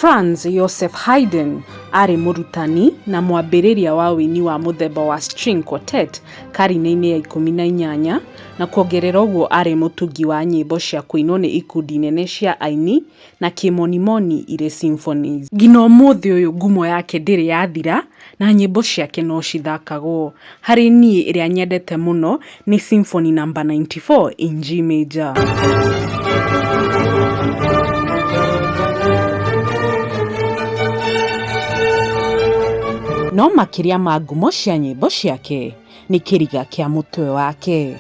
Franz Josef Haydn aarĩ mũrutani na mwambĩrĩria wa ũini wa mũthemba wa string quartet karine-inĩ ya ikũmi na inyanya, na kuongerera ũguo aarĩ mũtungi wa nyĩmbo cia kũinwo nĩ ikundi nene cia aini na kĩmonimoni irĩ symphonies. Nginya ũmũthĩ ũyũ ngumo yake ndĩrĩ yathira na nyĩmbo ciake no cithakagwo. Harĩ niĩ ĩrĩa nyendete mũno nĩ symphony number ninety four in G major. No makĩria ma ngumo cia nyĩmbo ciake nĩ kĩriga kĩa mũtwe wake.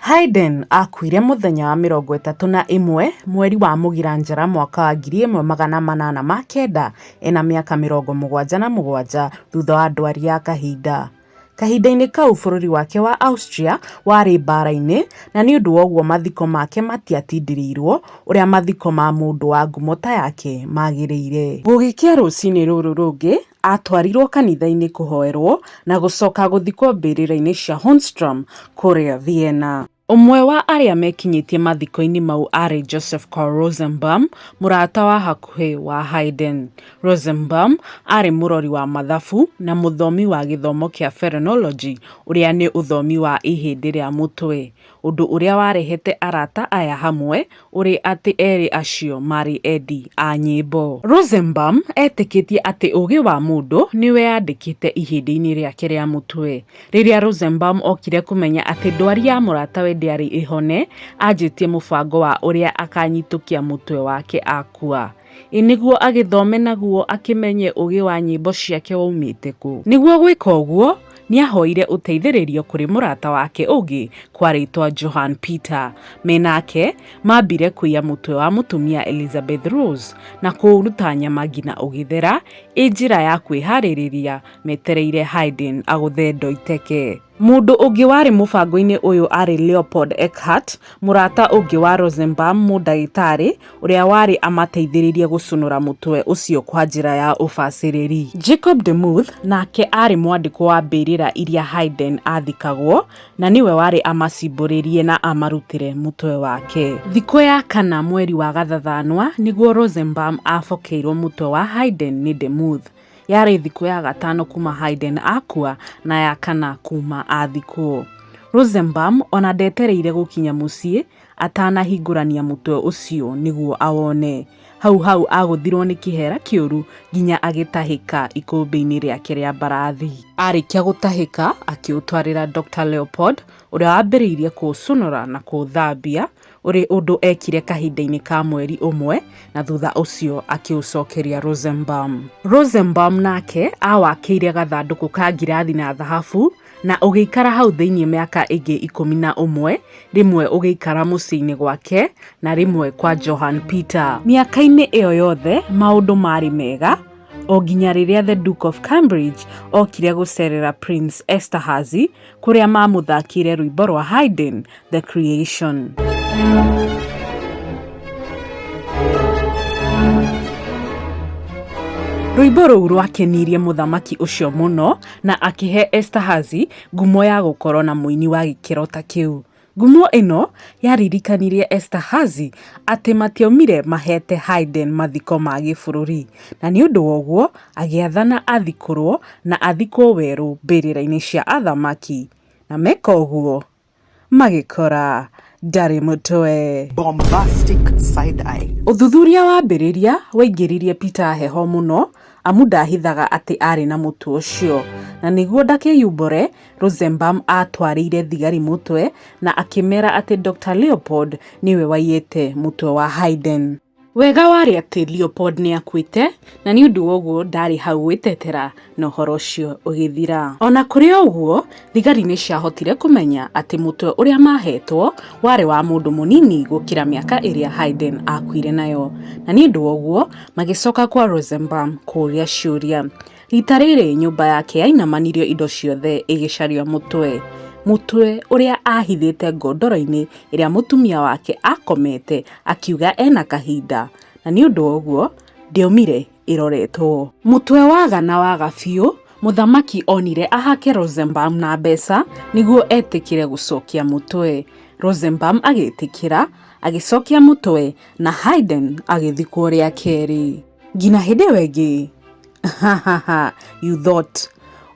Haydn aakuire mũthenya wa mĩrongo ĩtatũ na ĩmwe mweri wa Mũgira Njara mwaka wa ngiri ĩmwe magana manana ma kenda ena mĩaka mĩrongo mũgwanja na mũgwanja thutha wa ndwari ya kahinda. Kahinda-inĩ kau bũrũri wake wa Austria warĩ mbaara-inĩ na nĩ ũndũ woguo mathiko make matiatindĩrĩirwo ũrĩa mathiko ma mũndũ wa ngumo ta yake magĩrĩire. Gũgĩkĩa rũcinĩ rũrũ rũngĩ aatwarirũo kanitha-inĩ kũhoerũo na gũcoka gũthikwo mbĩrĩra-inĩ cia Hohenstrom kũrĩa Vienna. Ũmwe wa arĩa mekinyĩtie mathiko-inĩ mau aarĩ Joseph Karl Rosenbaum, mũrata wa hakuhĩ wa Haydn. Rosenbaum aarĩ mũrori wa mathabu na mũthomi wa gĩthomo kĩa phrenology, ũrĩa nĩ ũthomi wa ihĩndĩ rĩa mũtwe. Ũndũ ũrĩa warehete arata aya hamwe ũrĩ atĩ erĩ acio maarĩ endi a nyĩmbo. Rosenbaum eetĩkĩtie atĩ ũũgĩ wa mũndũ nĩ wĩyandĩkĩte ihĩndĩ-inĩ rĩake rĩa mũtwe. Rĩrĩa Rosenbaum okire kũmenya atĩ ndwari ya mũratawe ndĩarĩ ĩhone, aanjĩtie mũbango wa ũrĩa akaanyitũkia mũtwe wake akua. Ĩ nĩguo agĩthome naguo akĩmenye ũũgĩ wa nyĩmbo ciake woimĩte kũ. Nĩguo gwĩka ũguo, nĩahoire ũteithĩrĩrio kũrĩ mũrata wake ũngĩ kwarĩtwa Johann Peter. Me nake, maambire kũiya mũtwe wa mũtumia Elisabeth Rose na kũũruta nyama nginya ũgĩthera, ĩ njĩra ya kwĩharĩrĩria metereire Haydn agũthe ndoiteke. Mũndũ ũngĩ warĩ mũbango-inĩ ũyũ arĩ Leopold Eckhart, mũrata ũngĩ wa Rosenbaum, mũndagĩtarĩ ũrĩa warĩ amateithĩrĩirie gũcũnũra mũtwe ũcio kwa njĩra ya ũbacĩrĩri. Jacob de Muth nake aarĩ mwandĩkwo wa mbĩrĩra iria Haydn aathikagwo, na nĩwe warĩ amacimbũrĩrie na amarutĩre mũtwe wake. Thikũ ya kana mweri wa gathathanwa nĩguo Rosenbaum aabokeirwo mũtwe wa Haydn nĩ de Muth. Yarĩ thikũ ya gatano kuma Hayden akua na ya kana kuma athikwo. Rosenbaum ona ndetereire gũkinya mũciĩ atanahingũrania mũtwe ũcio nĩguo awone. Hau hau agũthirwo nĩ kĩhera kĩũru nginya agĩtahĩka ikũmbĩ-inĩ rĩake rĩa mbarathi. Arĩkia gũtahĩka akĩũtwarĩra Dr. Leopold ũrĩa wambĩrĩirie kũũcũnũra na kũũthambia ũrĩ ũndũ eekire kahinda-inĩ ka mweri ũmwe na thutha ũcio akĩũcokeria Rosenbaum. Rosenbaum nake aawakĩire gathandũkũ ka ngirathi na thahabu na ũgĩikara hau thĩinĩ mĩaka ĩngĩ ikũmi na ũmwe, rĩmwe ũgĩikara mũciĩ-inĩ gwake na rĩmwe kwa Johann Peter. Mĩaka-inĩ ĩyo yothe maũndũ maarĩ mega o nginya rĩrĩa The Duke of Cambridge okire gũceerera Prince Esterhazy kũrĩa mamũthakĩire rwĩmbo rwa Haydn The Creation. Rwĩmbo rũu rwakenirie mũthamaki ũcio mũno na akĩhe Estahazi ngumo ya gũkorũo na mũini wa gĩkĩro ta kĩu. Ngumo ĩno yaririkanirie Esterhazy atĩ matiaumire maheete Haydn mathiko ma gĩbũrũri, na nĩ ũndũ woguo agĩathana athikũrũo na athikwo werũ mbĩrĩra-inĩ cia athamaki, na meka ũguo magĩkora ndarĩ mũtwe. Bombastic side eye. Ũthuthuria wambĩrĩria waingĩririe Peter heho mũno amu ndaahithaga atĩ aarĩ na mũtwe ũcio, na nĩguo ndakeyumbũre Rosenbaum aatwarĩire thigari mũtwe na akĩmeera atĩ Dr. Leopold nĩwe waiyĩte mũtwe wa Haydn. Wega warĩ atĩ Leopold nĩ aakuĩte, na nĩ ũndũ woguo ndaarĩ hau gwĩtetera na ũhoro ũcio ũgĩthira. O na kũrĩ ũguo, thigari nĩ ciahotire kũmenya atĩ mũtwe ũrĩa maaheetwo warĩ wa mũndũ mũnini gũkĩra mĩaka ĩrĩa Haydn aakuire nayo, na nĩ ũndũ woguo magĩcoka kwa Rosenbaum kũũria ciũria. Rita rĩrĩ nyũmba yake yainamanirio indo ciothe ĩgĩcaria mũtwe. Mũtwe ũrĩa ahithĩte ngondoro-inĩ ĩrĩa mũtumia wake akomete akiuga ena kahinda na nĩ ũndũ wa ũguo ndĩomire ĩroretwo. Mũtwe waga na waga biũ, mũthamaki onire ahake Rosenbaum na mbeca nĩguo etĩkĩre gũcokia mũtwe. Rosenbaum agĩtĩkĩra, agĩcokia mũtwe na Haydn agĩthikwo rĩa kerĩ. Ngina hĩndĩ ĩyo ĩngĩ. Ha ha ha, you thought.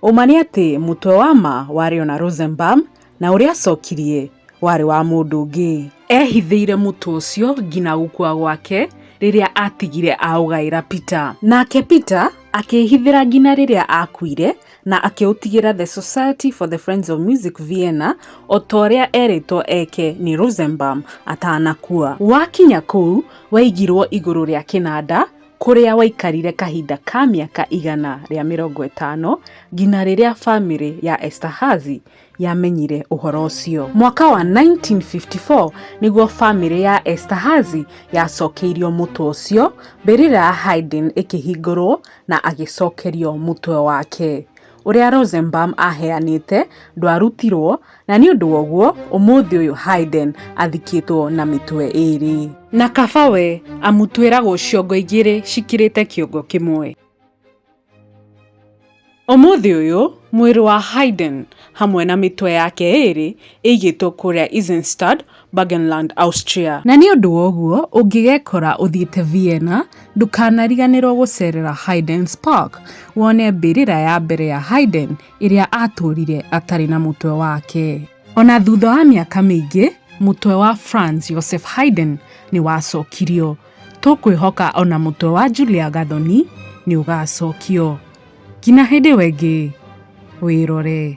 Ũma nĩ atĩ mũtwe wa ma warĩ ona Rosenbaum na ũrĩa acokirie warĩ wa mũndũ ũngĩ. Eehithĩire mũtwe ũcio nginya gũkua gwake rĩrĩa aatigire aũgaĩra Peter. Nake Peter akĩĩhithĩra nginya rĩrĩa aakuire na akĩũtigĩra The Society for the Friends of Music Vienna o ta ũrĩa eerĩtwo eke nĩ Rosenbaum atanakua. Wakinya kũu waigirũo igũrũ rĩa kĩnanda kũrĩa waikarire kahinda ka mĩaka igana rĩa mĩrongo ĩtano nginya rĩrĩa famĩlĩ ya Esterhazy yamenyire ũhoro ũcio. Mwaka wa 1954 nĩguo famĩlĩ ya Esterhazy yacokeirio mũtwe ũcio, mbĩrĩra ya Haydn ĩkĩhingũrũo na agĩcokerio mũtwe wake. ũrĩa Rosenbaum aheanĩte ndwarutirwo, na nĩ ũndũ woguo ũmũthĩ ũyũ Haydn athikĩtwo na mĩtwe ĩĩrĩ. Na kaba we, amu twĩragwo ciongo igĩrĩ cikirĩte kĩongo kĩmwe. Ũmũthĩ ũyũ mwĩrĩ wa Haydn hamwe na mĩtwe yake ĩĩrĩ ĩigĩtwo kũrĩa Eisenstadt, Burgenland, Austria. Na nĩ ũndũ wa ũguo, ũngĩgekora ũthiĩte Vienna, ndũkanariganĩrũo gũceerera Haydn's Park wone mbĩrĩra ya mbere ya Haydn ĩrĩa aatũũrire atarĩ na mũtwe wake. O na thutha wa mĩaka mĩingĩ, mũtwe wa Franz Josef Haydn nĩ wacokirio. Tũkwĩhoka o na mũtwe wa Julia Gathoni nĩ ũgaacokio. Nginya hĩndĩ ĩyo ĩngĩ, wĩrore.